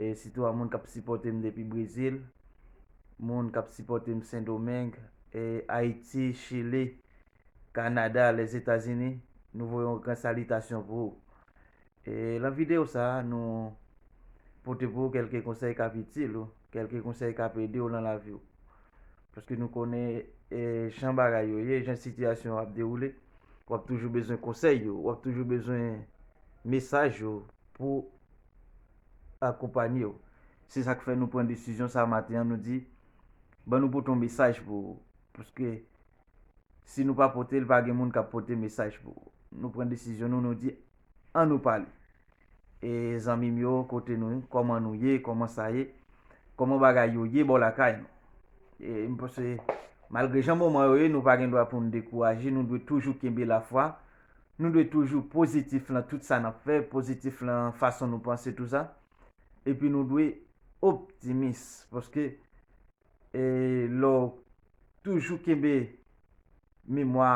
e sitou a moun kap sipòtem depi brezil moun kap sipòtem sendomeng e ayiti chili kanada lèzetazini nou voye yon gran salitasyon pou ou e lan video sa nou pote pou ou kelke konsèy kap itil ou kelke konsèy kap edew lan laviw paske nou konnen e jan bagay yo ye jan sitiyasyon yo ap dewoule wap toujou bezwen konsèy yo wap toujou bezwen mesaj yo pou akonpanye w. Se sa k fè nou pran desizyon sa maten an, nou di ban nou pote yon mesaj pou ou. Paske si nou pa pote l, pa gen moun k ap pote mesaj pou ou. Nou pran desizyon nou, nou di an nou pale. E zanmi m yo, kote nou? Kòman nou ye? Kòman sa ye? Kòman bagay yo ye bò lakay nou? E m panse malgre jan moman yo ye, nou pa gen dwa pou n dekouraje. Nou dwe toujou kenbe lafwa. nou dwe toujou pozitif lan tout sa nap fè, pozitif lan fason nou panse tout sa, epi nou dwe optimis paske e lè w toujou kenbe memwa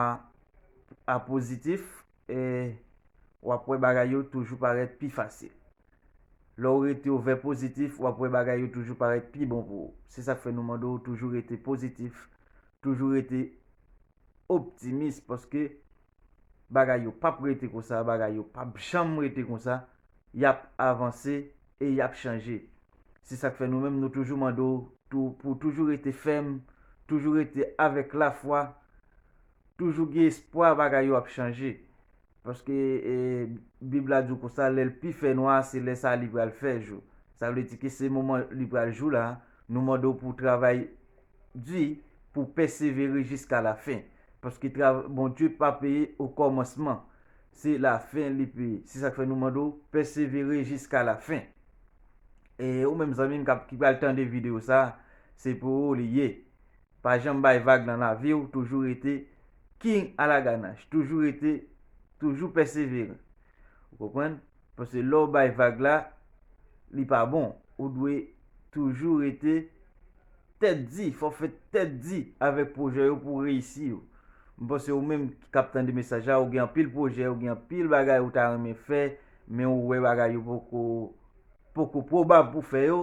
a pozitif e wap wè bagay yo toujou parèt pi fasil. Lè w rete w vè pozitif wap wè bagay yo toujou parèt pi bon pou ou. Se sak fè nou mande w toujou rete pozitif, toujou rete optimis paske bagay yo pap rete konsa, bagay yo pap janm rete konsa, yap avanse e yap chanje. Se sak fè nou menm nou toujou mande w tou pou w toujou rete fèm, toujou rete avèk lafwa, toujou gen espwa bagay yo ap chanje. Paske bib la di w konsa lè l pi fè nwa se lè sa li pral fè jou. Sa vle di ke se moman li pral jou la, nou mande w pou w travay di pou pèsevere jiska lafen paske travay Bondye pa peye okòmansman se lafen li peye se sak fè nou mande w pèsevere jiska lafen e ou menm zanmim kap ki pral tande video sa se pou ou li ye pa janm bay vag nan laviw toujou rete king alaganach toujou rete toujou pèsevere ou konprann. Paske lè w bay vag la, li pa bon. Ou dwe toujou rete tèt di. Fò w fè tèt di avèk pwojè yo pou w reyisi yo. M panse ou menm k ap tande mesaj la, ou gen anpil pwojè, ou gen anpil bagay ou ta renmen fè, men ou wè bagay yo poko poko pwobab pou w fè yo,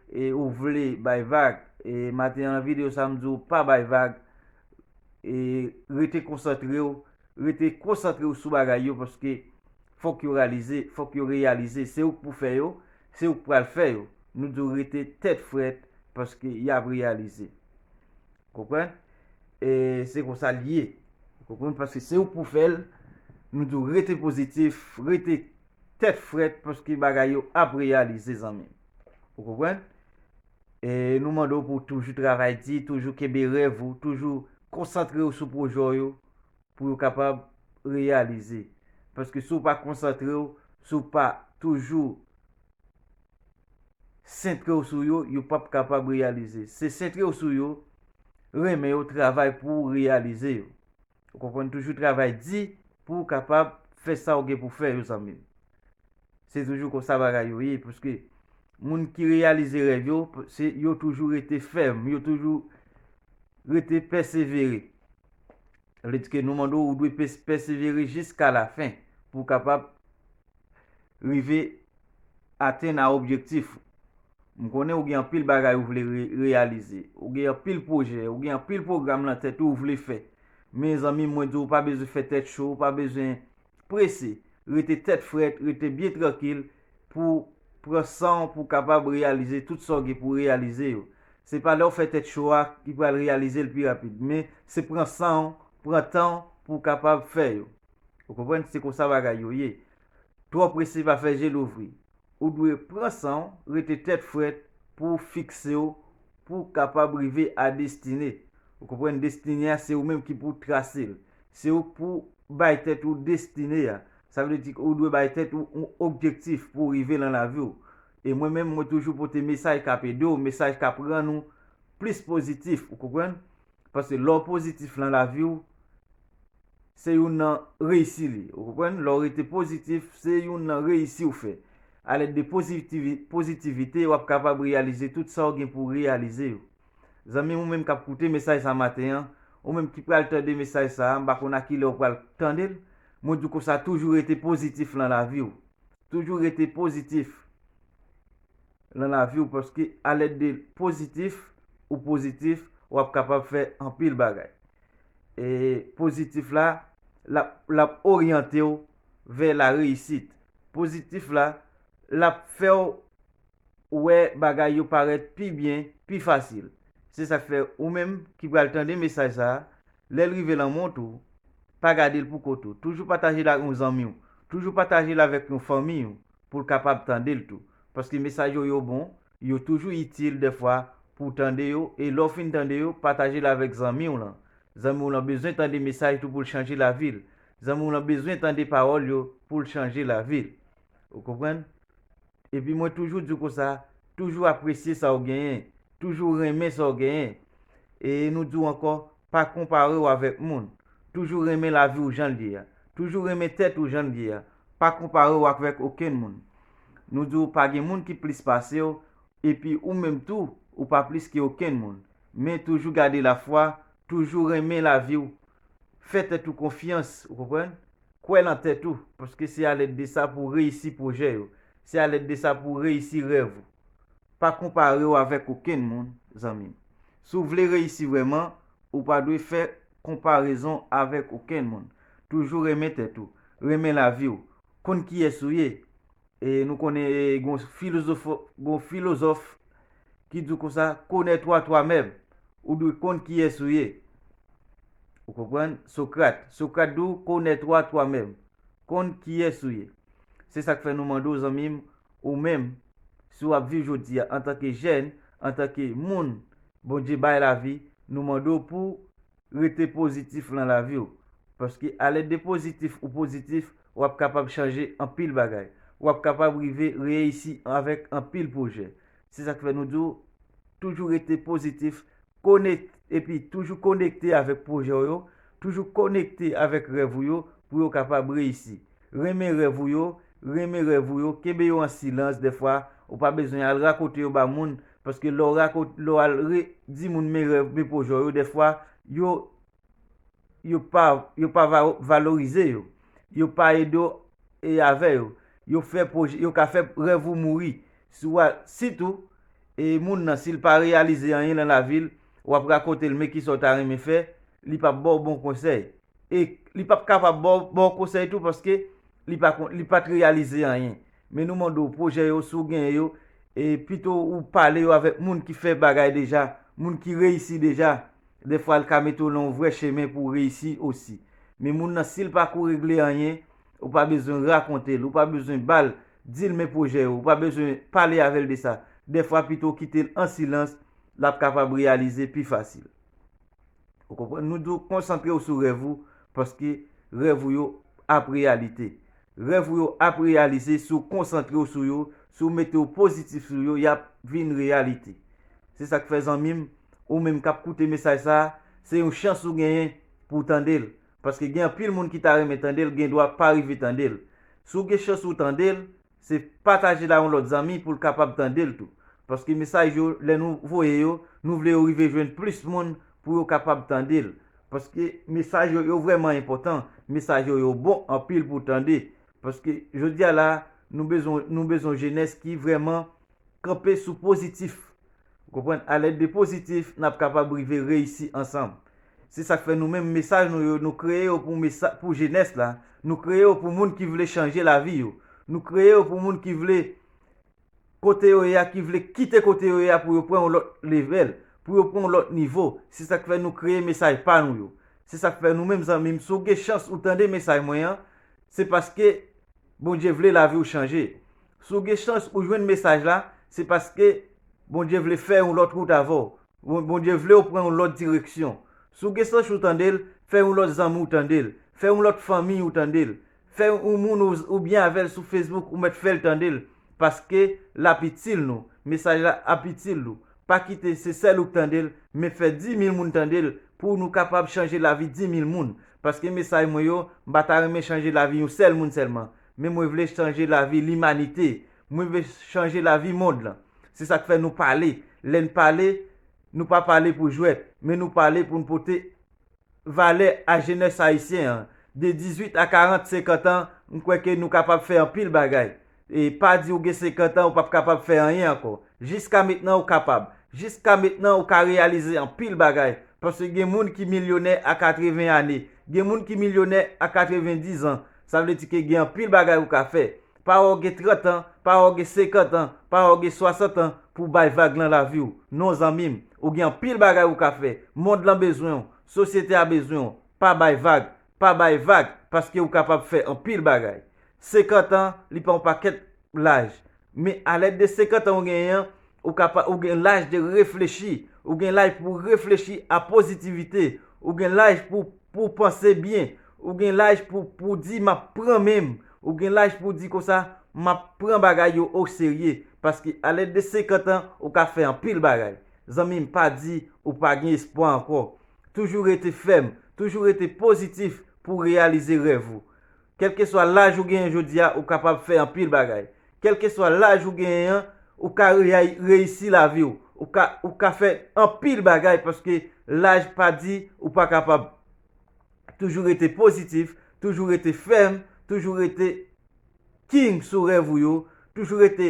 e ou vle bay vag. E maten an nan videyo sa a, m di w pa bay vag, e rete konsantre w, rete konsantre w sou bagay yo paske fòk yo ralize, fòk yo reyalize, se ou k pou fè yo, se ou k pral fè yo, nou di w rete tèt frèt paske y ap reyalize. Ou konprann? E se konsa l ye. Ou konprann? Paske se ou k pou fè l, nou di w rete pozitif, rete tèt frèt paske bagay yo ap reyalize zanmi m. Ou konprann? E nou mande w pou w toujou travay di, toujou kenbe rèv ou, toujou konsantre w sou pwojè w yo, pou yo kapab reyalize. Paske si w pa konsantre w, si w pa toujou sentre w sou yo, yo pap kapab reyalize. Se sentre w sou yo, renmen yo, travay pou w reyalize yo. Ou konprann? Toujou travay di pou w kapab fè sa w gen pou fè yo zanmi m. Se toujou konsa bagay yo ye. Paske moun ki reyalize rèv yo, yo toujou rete fèm, yo toujou rete pèsevere. Sa vle di ke nou mande w, ou dwe pèsevere jiska lafen pou w kapab rive atenn a objektif ou. M konnen ou gen anpil bagay ou vle reyalize, ou gen anpil pwojè, ou gen anpil pwogram lan tèt ou, ou vle fè. Mezanmi mwen di w ou pa bezwen fè tèt cho, ou pa bezwen prese, rete tèt frèt, rete byen trankil pou pran san w pou w kapab reyalize tout sa w gen pou w reyalize yo. Se pa lè w fè tèt cho a ki pral reyalize l pi rapid, men se pran san w, pran tan w pou w kapab fè yo. Ou konprann? Se konsa bagay yo ye. Twò prese pa fè je louvri. Ou dwe pran sanw rete tèt frèt pouw fiksew pouw kapab rive a destine ou konprann destine a se ou menm ki pou trasel se ou pou bay tèt ou destine a sa vle di ou dwe bay tèt ou yon objektif pouw rive lan laviw e mwen menm mwen toujou pote mesaj kap edew mesaj kap rann ou plis pozitif ou konprann Paske lè w pozitif lan lavi w, se youn nan reyisi li. Ou konprann? Lè w rete pozitif, se youn nan reyisi w fè. A lèd de pozitivite, w ap kapab reyalize tout sa w gen pou w reyalize yo. Zanmi m ou menm k ap koute mesaj sa maten an, ou menm ki pral tande mesaj sa a, m pa konn a kilè w pral tande l, mwen di w konsa toujou rete pozitif lan lavi w. Toujou rete pozitif. lan lavi ou paske a lèd de pozitif ou pozitif wap kapab fè anpil bagay e pozitif la lap oryante ou vè la reyisit pozitif la lap fè ou wè bagay yo parèt pi byen pi fasil se sak fè ou menm ki pral tande mesaj sa lèl rive lan mont ou pa gadel pou kòt ou toujou patajel ak yon zanmi ou toujou patajel avèk yon fanmi ou poul kapab tandel tou paske mesaj yo yo bon yo toujou itil dèfwa pouw tande yo e lèw fin tande yo patajel avèk zanmiw lan zanmiw lan bezwen tande mesaj tou poul chanje lavil zanmiw lan bezwen tande pawòl yo poul chanje lavil ou konprann epi mwen toujou diw konsa toujou apresye sa ou genyen toujou renmen sa ou genyen e nou diw ankò pa konparew avèk moun toujou renmen laviw janl ye a toujou renmen tèt ou janl ye a Pa konpare w akvèk okenn moun. Nou di w pa gen moun ki plis pase w, epi ou menm tou, ou pa plis ke okenn moun. Men toujou gade lafwa, toujou renmen lavi w, fè tèt ou konfyans, ou konprann? Kwè lan tèt ou, paske se alèd de sa pou w reyisi pwojè yo. Se alèd de sa pou w reyisi rèv ou. Pa konpare w avèk okenn moun, zanmi m. Si w vle reyisi vrèman, ou pa dwe fè konparezon avèk okenn moun. Toujou renmen tèt ou, renmen lavi w, konn kiyès ou ye. E nou konnen gon filozòf ki di konsa, Connais toi toi meme, ou dwe konn kiyès ou ye. Ou konprann? Sokrat, Sokrat di w, Connais toi toi meme, konn kiyès ou ye. Se sa k fè nou mande w zanmi m, ou menm, si w ap viv jodi a antanke jèn, antanke moun Bondye bay lavi nou mande w pouw rete pozitif lan lavi w paske alèd de pozitif ou pozitif wap kapab chanje anpil bagay wap kapab rive reiysi avèk anpil pwojè se sak fè nou di w toujou rete pozitif konek epi toujou konekte avèk pwojè w yo toujou konekte avèk rèv ou yo pou yo kapab reyisi Renmen rèv ou yo, renmen rèv ou yo, kenbe yo an silans dèfwa ou pa bezwen al rakonte yo ba moun paske lè w rakonte lè w al re di moun men rèv men pwojè w yo dèfwa yo yo pa yo pa va valorize yo yo pa ede w e avè yo yo fè pwojè yo ka fè rèv ou mouri si w al sitou e moun nan si l pa reyalize anyen nan lavi l w ap rakonte l men kisa w ta renmen fè li p ap ba w bon konsèy e li pap kapab ba w konsèy tou paske li pat reyalize anyen. Men nou mande w pwojè yo si w genyen yo, e pito ou pale yo avèk moun ki fè bagay deja, moun ki reyisi deja, defwa li ka mete w nan yon vrè chemen pou w reyisi osi. Men moun nan si l pa ko regle anyen, ou pa bezwen rakonte l, ou pa bezwen ba l, di l men pwojè yo, ou pa bezwen pale avè l de sa. Defwa pito w kite l an silans, l ap kapab reyalize pi fasil. Ou konprann? Nou dwe konsantre ou sou rèv ou paske rèv ou yo ap reyalite. Rèv ou yo ap reyalize si ou konsantre ou sou yo, si ou mete ou pozitif sou yo, y ap vin reyalite. Se sa k fè zanmi m, ou menm k ap koute mesaj sa a, se yon chans ou genyen pou w tande l. Paske gen anpil moun ki ta renmen tande l, gendwa pa rive tande l. Si w gen chans ou tande l, Se pataje la yon lòt zanmi poul kapab tandel tou. Paske mesaj yo lè nou voye yo nou vle yo rive jwenn plis moun pou yo kapab tandel. Paske mesaj yo yo vrèman enpòtan, mesaj yo yo bon anpil pou tande. Paske jodia la nou bezwen nou bezwen jenès ki vrèman Kanpe sou pozitif. Ou konprann? Alèd de pozitif, n ap kapab rive reyisi ansanm. Se sa k fè nou menm mesaj nou yo, nou kreye yo pou mesa, pou jenès la, nou kreye yo pou moun ki vle chanje lavi yo. Nou kreye yo pou moun ki vle kote yo ye a, ki vle kite kote yo ye a pou yo pran yon lòt levèl, pou yo pran yon lòt nivo. Se sa k fè nou kreye mesaj pa nou yo. Se sa k fè nou menm zanmi m, si w gen chans ou tande mesaj mwen an, se paske. Bondye vle laviw chanje. Si w gen chans ou jwenn mesaj la, se paske Bondye vle fè yon lòt wout avè w. Bondye vle w pran yon lòt direksyon. Si w gen sanch ou tande l, fè yon lòt zanmi w tande l, fè yon lòt fanmiy ou tande l, fè yon moun ou byen avè l sou Facebook ou mèt fè l tande l, paske lap itil nou, mesaj la ap itil ou. pa kite se sèl ou k tande l men fè 10000 moun tande l pou nou kapab chanje lavi 10000 moun paske mesaj mwen yo m pa ta renmen chanje lavi yon sèl moun sèlman men mwen vle chanje lavi limanite mwen vle chanje lavi mond lan se sak fè nou pale lè n pale nou pa pale pou jwèt men nou pale pou n pote valè a jenès ayisyen an de 18 a 40, 50 an, m kwè ke nou kapab fè anpil bagay. E pa di ou gen 50 an ou pap kapab fè anyen ankò. Jiska metnan ou kapab. Jiska metnan ou ka reyalize anpil bagay. Paske gen moun ki milyonè a 80 ane. Gen moun ki milyonè a 90 an. Sa vle di ke gen anpil bagay ou ka fè. Pa wè w gen 30 an, pa wè w gen 50 an, pa wè w gen 60 an pou w bay vag lan lavi w. Non zanmi m, ou gen anpil bagay ou ka fè. Mond lan bezwen w, sosyete a bezwen w. Pa bay vag, pa bay vag paske ou kapab fè anpil bagay. 50 an, li pa yon pakèt laj. Men a lèd de 50 an ou genyen an, ou ka pa, ou gen laj de reflechi. Ou gen laj pou w reflechi a pozitivite. Ou gen laj pou w, pou w panse byen. Ou gen laj pou w, pou w di m ap pran men m. Ou gen laj pou w di konsa, m ap pran bagay yo o serye, paske a lèz de 50 an, ou ka fè anpil bagay. Zanmi m pa di ou pa gen espwa ankò. Toujou rete fèm, toujou rete pozitif pou w reyalize rèv ou. Kèlkeswa laj ou genyen jodi a, ou kapab fè anpil bagay. Kèlkeswa laj ou genyen an, ou ka reyisi lavi w. Ou ka, ou ka fè anpil bagay paske laj pa di ou pa kapab. Toujou rete pozitif, toujou rete fèm, toujou rete King sou rèv ou yo, toujou rete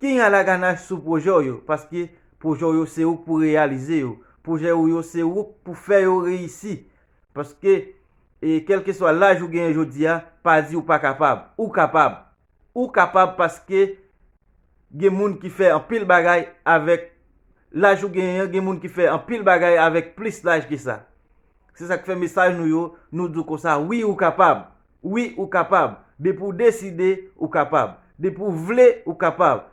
King a la ganache sou pwojè w yo, paske pwojè w yo se ou k pou reyalize yo, pwojè ou yo se ou k pou fè yo reyisi, paske kèlkeswa laj ou genyen jodi a, pa di ou pa kapab, ou kapab. ou kapab paske gen moun ki fè anpil bagay avèk laj ou genyen an, gen moun ki fè anpil bagay avèk plis laj ke sa. Se sa k fè mesaj nou yo, nou di w konsa wi ou kapab, wi ou kapab, depi w deside ou kapab, depi w vle ou kapab,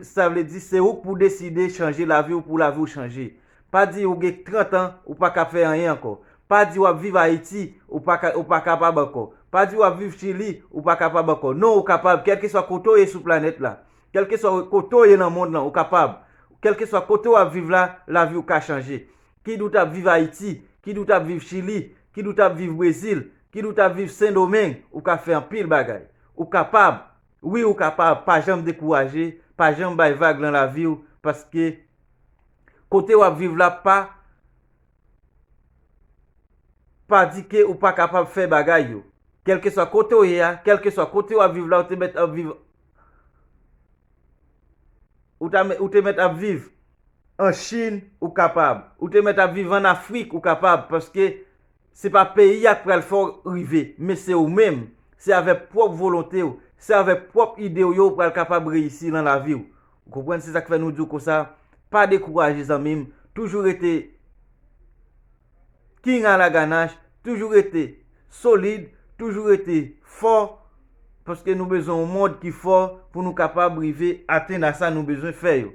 sa vle di se ou k pou deside chanje lavi w pou lavi w chanje. Pa di ou gen 30 an ou pa kab fè anyen ankò. Pa di wap viv Ayiti ou pa ka ou pa kapab ankò. Pa di wap viv Chili ou pa kapab ankò. Non ou kapab kèlkeswa kote ou ye sou planèt la. Kèlkeswa kote ou ye nan mond lan ou kapab. Kèlkeswa kote wap viv la, lavi ou ka chanje. Kid ou tap viv Ayiti, kid ou tap viv Chili, kid ou tap viv Brezil, kid ou tap viv Sendomeng ou ka fè anpil bagay. Ou kapab, wi ou kapab pa janm dekouraje, pa janm bay vag lan laviw paske. Kote wap viv la pa Pa di ke ou pa kapab fè bagay yo. Kelkeswa kote w ye a, kelkeswa kote wap viv la ou te mèt ap viv Ou te mèt ap viv an Chine ou kapab. Ou te mèt ap viv an Afrik ou kapab paske Se pa peyi a k pral fè w rive, men se ou menm. Se avèk pwòp volonte w, se avèk pwòp ide w yo ou pral kapab reyisi lan lavi w. Ou konprann? Se sa k fè nou di w konsa, pa dekouraje zanmi m, toujou rete King Alaganach, toujou rete solid, toujou rete fò. Paske nou bezwen yon mond ki fò pou nou kapab rive atenn a sa nou bezwen fè yo.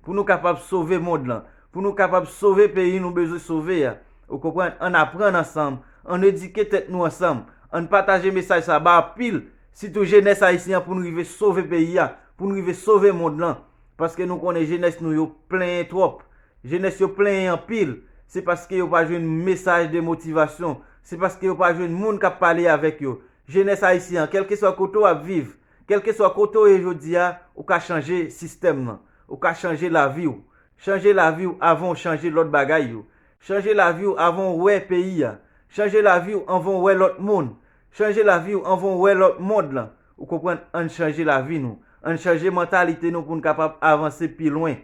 Pou nou kapab sove mond lan. Pou nou kapab sove peyi nou bezwen sove a. Ou konprann? Ann aprann ansanm. Ann edike tèt nou ansanm. Ann pataje mesaj sa ba anpil, sitou jenès ayisyen an pou n rive sove peyi a. Pou n rive sove mond lan. Paske nou konnen jenès nou yo plenyen twòp. Jenès yo plenyen anpil. Se paske yo pa jwenn mesaj de motivasyon. Se paske yo pa jwenn moun k ap pale avèk yo. Jenès ayisyen an, kèlkeswa kote w ap viv, kèlkeswa kote w ye jodi a, ou ka chanje sistèm lan. Ou ka chanje lavi w. Chanje lavi w avan w chanje lòt bagay yo. Chanje lavi w avan w wè peyi a. Chanje lavi w anvan w wè lòt moun. Chanje lavi w anvan w wè lòt mond lan. Ou konprann? Ann chanje lavi nou. Ann chanje mantalite nou pou n kapab avanse pi lwen.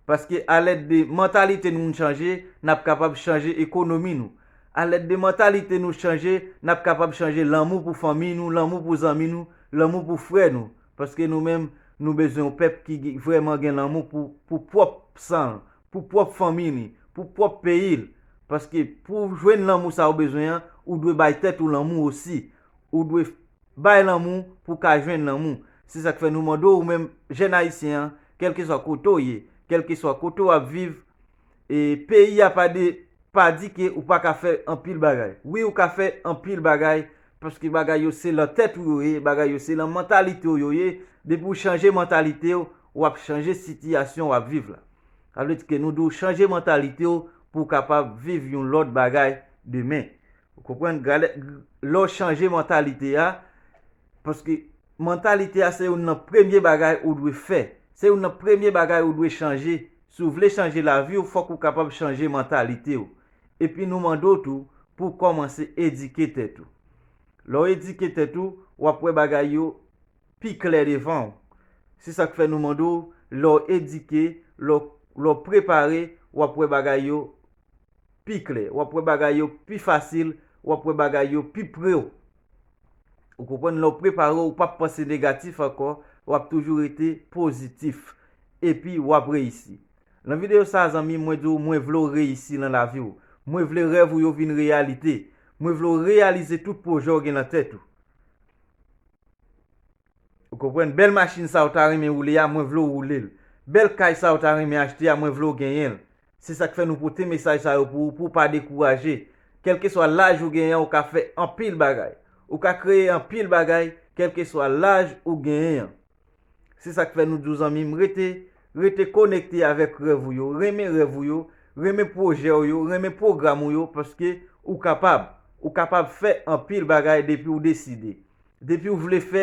Paske alèd de mantalite nou n chanje n ap kapab chanje ekonomi nou. Alèd de mantalite nou chanje n ap kapab chanje lanmou pou fanmiy nou, lanmou pou zanmi nou, lanmou pou frè nou. Paske nou menm nou bezwen yon pèp ki vrèman gen lanmou pou pou pwòp san l, pou pwòp fanmiy li, pou pwòp peyi l. Paske pou w jwenn lanmou sa ou bezwen an, ou dwe bay tèt ou lanmou osi. Ou dwe. Bay lanmou pou w ka jwenn lanmou. Se sa k fè nou mande w ou menm jèn ayisyen an, kèlkeswa kote w ye, kèlkeswa kote w ap viv, e peyi a pa de pa di ke ou pa ka fè anpil bagay. Wi ou ka fè anpil bagay paske bagay yo se lan tèt ou yo ye, bagay yo se lan mantalite w yo ye, depi w chanje mantalite w, w ap chanje sitiyasyon w ap viv la. Sa vle di ke nou di w chanje mantalite w pou w kapab viv yon lòt bagay demen. Ou konprann? Gade, lè w chanje mantalite a, paske mantalite a se youn nan premye bagay ou dwe fè. Se youn nan premye bagay ou dwe chanje. Si w vle chanje lavi w, fòk ou kapab chanje mantalite w. Epi nou mande w tou pou w kòmanse edike tèt ou. Lè w edike tèt ou, w ap wè bagay yo pi klè devan w. Se sa k fè nou mande w, lè w edike, lè w prepare, w ap wè bagay yo pi klè, w ap wè bagay yo pi fasil, w ap wè bagay yo pi pre w. Ou konprann? Lè w prepare w, ou pap panse negatif ankò, w ap toujou rete pozitif. Epi w ap reyisi. Lan videyo sa a zanmi, mwen di w mwen vle w reyisi lan lavi w. Mwen vle rèv ou yo vin reyalite. Mwen vle w reyalize tout pwojè w gen lan tèt ou. Ou konprann? Bèl machin sa ou ta renmen woule a, mwen vle w woule l. Bèl kay sa ou ta renmen achte a, mwen vle w genyen l. Se sa k fè nou pote mesaj sa yo pou ou pou w pa dekouraje. Kèlkeswa laj ou genyen an ou ka fè anpil bagay. Ou ka kreye anpil bagay kèlkeswa laj ou genyen an. Se sa k fè nou di w zanmi m rete, rete konekte avèk rèv ou yo, renmen rèv ou yo, renmen pwojè w yo, renmen pwogram ou yo paske ou kapab. Ou kapab fè anpil bagay depi w deside. Depi w vle fè.